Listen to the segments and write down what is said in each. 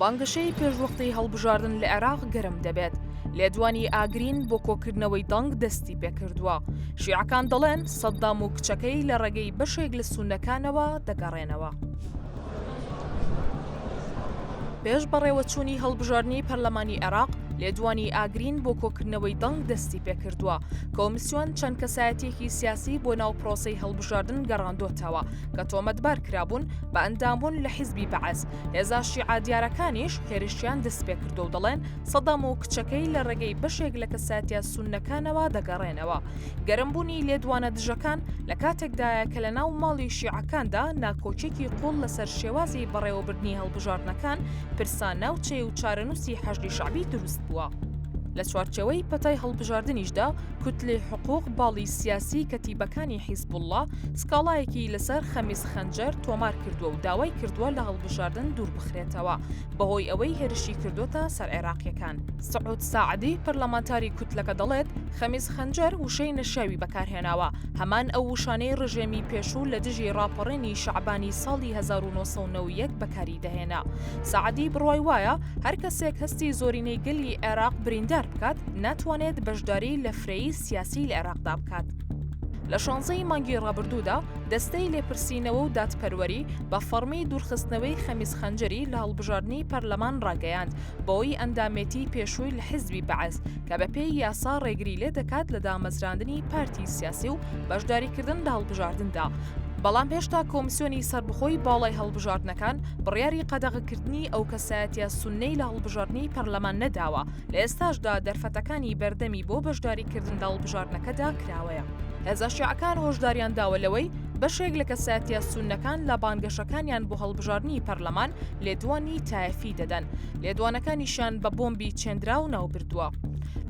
بانگەشەی پێش وەختەی هەڵبژاردن لە عێراق گەرم دەبێت، لێدوانی ئاگرین بۆ کۆکردنەوەی دەنگ دەستی پێکردووە، شیعەکان دەڵێن سەددام و کچەکەی لە ڕێگەی بەشێک لە سوننەکانەوە دەگەڕێنەوە. پێش بەڕێوەچوونی هەڵبژاردنی پەرلەمانی عێراق، لێدوانی ئاگرین بۆ کۆکردنەوەی دەنگ دەستی پێکردووە، کۆمسیۆن چەند کەسایەتیەکی سیاسی بۆ ناو پرۆسەی هەڵبژاردن گەڕاندۆتەوە کە تۆمەتبار کرابوون بە ئەندامبوون لە حیزبی بەعس، هێزە شیعە دیارەکانیش هێرشیان دەستپێکردو و دەڵێن سەدام و کچەکەی لە ڕێگەی بەشێک لە کەساتیا سونەکانەوە دەگەڕێنەوە گەرمبوونی لێدوانە دژەکان لە کاتێکدایە کە لە ناو ماڵی شیعەکاندا ناکۆکێکی قوڵ لەسەر شێوازی بەڕێوەبردنی هەڵبژاردنەکان پرسا ناوچەی و چارەنووسی حەشدی شعبی دروست بووە. لە چوارچەوەی پەتای هەڵبژاردنیشدا کوتلەی حقوق باڵی سیاسی کەتیبەکانی حیزبوڵڵا سکاڵایەکی لەسەر خەمیس خەنجەر تۆمار کردووە و داوای کردووە لە هەڵبژاردن دووربخرێتەوە بەهۆی ئەوەی هێرشی کردووەتە سەر عێراقییەکان. سعود ساعدی پەرلەمانتاری کوتلەکە دەڵێت، خەمیس خەنجەر وشەی نەشیاوی بەکارهێناوە، هەمان ئەو وشانەی ڕژێمی پێشوو لە دژی ڕاپەڕینی شەعبانی ساڵی هەزار و نۆ سەد و نەوە و یەک بەکاری دەهێنا. سەعدی بڕوای وایە هەر کەسێک هەستی زۆرینەی گەلی عێراق بریندار بکات، ناتوانێت بەشداری لە فرەیی سیاسی لە عێراقدا بکات. لە شانزەی مانگی ڕابردوودا دەستەی لێپرسینەوە و دادپەروەری بە فەڕمی دوورخستنەوەی خەمیس خەنجەری لە هەڵبژاردنی پەرلەمان ڕاگەیاند بەوەی ئەندامێتی پێشووی لە حیزبی بەعس کە بە پێی یاسا ڕێگری لێ دەکات لە دامەزراندنی پارتی سیاسی و بەشداریکردن لە هەڵبژاردندا. بەڵام هێشتا کۆمسیۆنی سەربخۆی باڵای هەڵبژاردنەکان بڕیاری قەدەغەکردنی ئەو کەسایەتە سونەی لە هەڵبژاردنی پەرلەمان نەداوە لە ئێستاشدا دەرفەتەکانی بەردەمی بۆ بەشداریکردن لە هەڵبژاردنەکەدا کراوەیە. هێزە شیعەکان هۆشداریان داوە لەوەی بەشێک لە کەسایەتە سونەکان لە بانگەشەکانیان بۆ هەڵبژاردنی پەرلەمان لێدوانی تایەفی دەدەن، لێدوانەکانیشیان بە بۆمبی چێنراو ناوبردووە.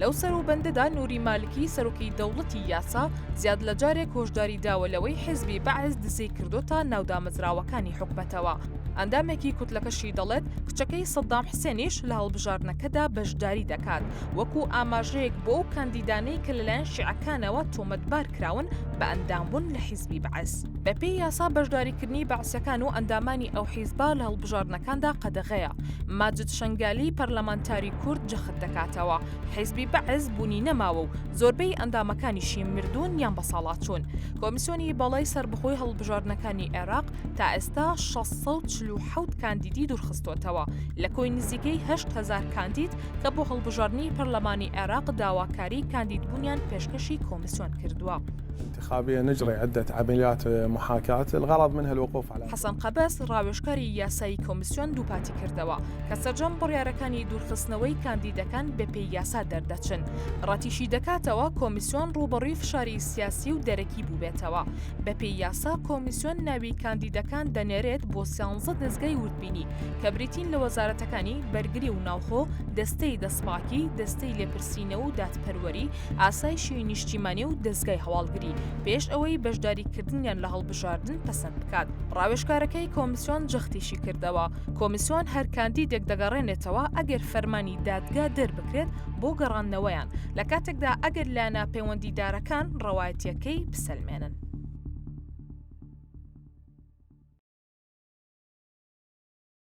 لەو سەروبەندەدا نوری مالکی سەرۆکی دەوڵەتی یاسا زیاد لە جارێک هۆشداری داوە لەوەی حزبی بەعس دزەی کردوتە ناو دامەزراوەکانی حکومەتەوە. ئەندامێکی کوتلەکەشی دەڵێت کچەکەی سەدام حسێنیش لە هەڵبژاردنەکەدا بەشداری دەکات وەکو ئاماژەیەک بۆ ئەو کاندیدانەی کە لەلایەن شیعەکانەوە تۆمەتبارکراون بە ئەندامبوون لە حزبی بەعس. بەپێی یاسا بەشداریکردنی بەعسەکان و ئەندامانی ئەو حیزبە لە هەڵبژاردنەکاندا قەدەغەیە ماجد شنگالی پەرلەمانتاری کورد جەخت دەکاتەوە حیزبی بەعس بوونی نەماوە و زۆربەی ئەندامەکانیشی مردوون یان بەساڵاچوون کۆمیسیۆنی بەڵای سربەخۆی هەڵبژاردنەکانی عێراق تا ئێستا 1640 کاندیدی دوورخستوتەوە لە کۆی نزیکەی 8هزار کاندید کە بۆ هەڵبژاردننی پەرلەمانی عێراق داواکاری کاندیدبوونیان پێشکەشی کۆمیسیۆن کردووە. انتخابية نجري عدة عمليات محاكاة الغرض منها الوقوف على. حەسەن قەبەس، ڕاوێژکاری یاسایی کۆمیسیۆن دووپاتی کردەوە کە سەرجەم بڕیارەکانی دوورخستنەوەی کاندیدەکان بەپێی یاسا دەردەچن، ڕەتیشیدەکاتەوە کۆمیسیۆن ڕووبەڕووی فشاری سیاسی و دەرەکی بووبێتەوە، بەپێی یاسا کۆمیسیۆن ناوی کاندیدەکان دەنێرێت بۆ سیانزە دەزگای وردبینی کە بریتین لە وەزارەتەکانی، بەرگری و ناوخۆ، دەستەی دەستپاکی، دەستەی لێپرسینەوە و دادپەروەری، ئاسایشی نیشتیمانی و دەزگای هەواڵگری پێش ئەوەی بەشداریکردنیان لە هەڵبژاردن پەسەند بکات ڕاوێژکارەکەی کۆمیسیۆن جەختیشی کردەوە کۆمیسیۆن هەر کاندیدێک دەگەڕێنێتەوە ئەگەر فەرمانی دادگا دەربکرێت بۆ گەڕاندنەوەیان لە کاتێکدا ئەگەر لایەنە پەیوەندیدارەکان ڕەوایەتیەکەی بسەلمێنن.